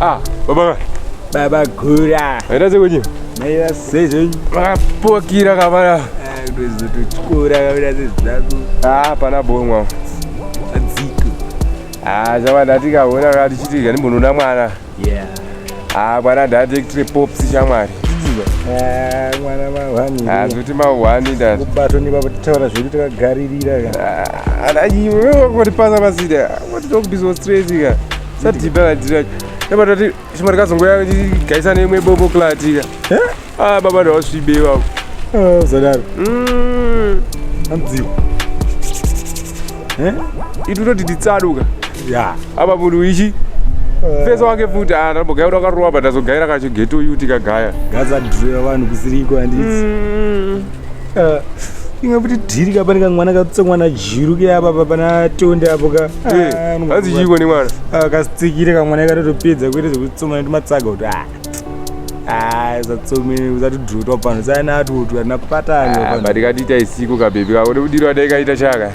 Ah, baba. Baba Gura. Era zeko nyi? Maiva sezo. Makapokira kabara. Ah, kutozo tuchikura kabira zezako. Ah, pana bonwa. Adziko. Ah, zvawa ndatika wona kati chiti ngani mbonoda mwana. Ah, mwana directory pops shamwari. Ah, mwana mahwani. Ah, zoti mahwani nda. Kubato ni baba titaura zvedu takagaririra ka. Ah, ana iwe wakoti pasa pasida. What talk this was crazy ka. Sati bala direct. Yabata ti shimari kazongoya gaisa neimwe bobo klati ka. Eh? Ah, baba ndawasvibe ivavo ah, zadaro mm. anziwa eh? itu toti titsaduka ya apa munhu ichi ah. fesa wake futi anambogaya kuti akarowa but azogaira kacho geto yu tikagaya gazadreva vanhu kusiriko handiti mm. inga kuti dhiri ka pane kamwana katutsa mwana jiru ke apa pa pana tonde apo ka eh, hanzi chiiko nemwana kasitsikire kamwana katotopedza kuita zvekutsoma netimatsaga kuti a Ah, zvatsomene usatidhutwa pano saina atutwa tinakupatana ah, but ikatiita isiku kabhebi kako nekudirwa dai kaita chaka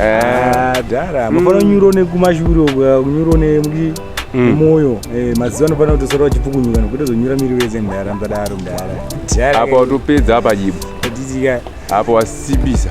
eh. ah, dhara mafana mm. nyuro nekumashure uko kunyuro nemuki Mm. moyo eh, maziva anofanira kuti sora vachipukunyuka nokuti zonyura miri wese ndara mdadaro mdara apa watopedza apa jibu apo wasibisa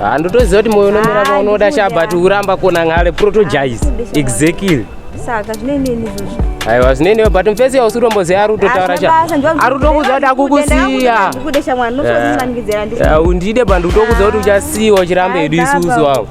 handotoziva kuti moyo unomira paunoda shabati uramba kona ngale protogize exactly saka zvinenenizozvo aiwa zvinene but mfesi yausi utomboziva ari utotaura cha ari utokuziva kuti akukusiya undide bandi utokuziva kuti uchasiyiwa uchiramba hedu isusu wangu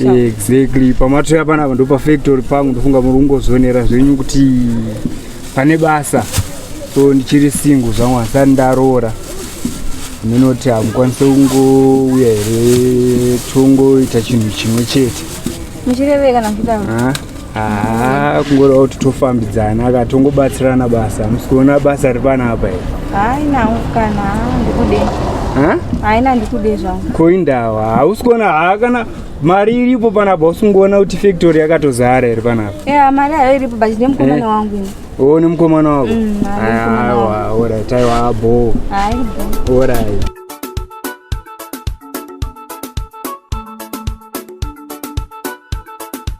exactly pamatri apana apa ndopafactory pangu ndofunga muri kungozonera zvenyu kuti pane basa so ndichiri singu zvangu hasati ndaroora ndinoti hamukwanise kungouya here tongoita chinhu chimwe chete muchireveka nakudaro haa kungoreva kuti tofambidzana ka tongobatsirana basa hamusi kuona basa riri pana apa here hainawo kana ndikude haina ndikude zvangu ko indawa hausi kuona haa kana mari iripo panapa usingoona kuti factory yakatozara here panapa ya mari ayo iripo but nemukomana eh? wangu ini o nemukomana wako mm, aiwa orit aiwa bo orit